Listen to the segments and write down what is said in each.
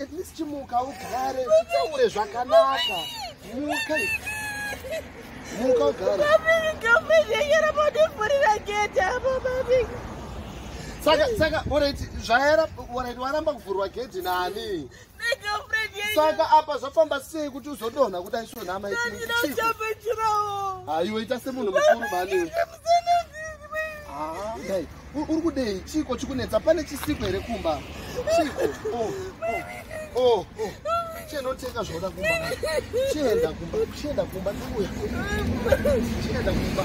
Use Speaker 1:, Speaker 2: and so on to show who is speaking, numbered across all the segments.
Speaker 1: at least chimuka ugare titaure zvakanaka muka muka ugare saka saka orit zvaera orit waramba kuvhurwa gedhi nani saka apa zvafamba sei kuti uzodonha kuti aisonhama aiwe ita semunhu mukuru mani uri kudei chiiko chikunetsa pane chisiko here kumba chiiko oh, oh, oh, oh. chenotenga zvoda kumba chienda kumba chienda kumba ndikuya chienda kumba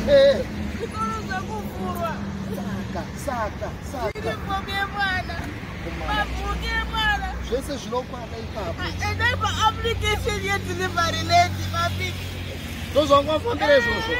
Speaker 1: ee eh. saka saka saka zvese zvinokwana ipapoendaipaapplication yedelivery lady mabiki ndozvangwafambira izvozvo eh.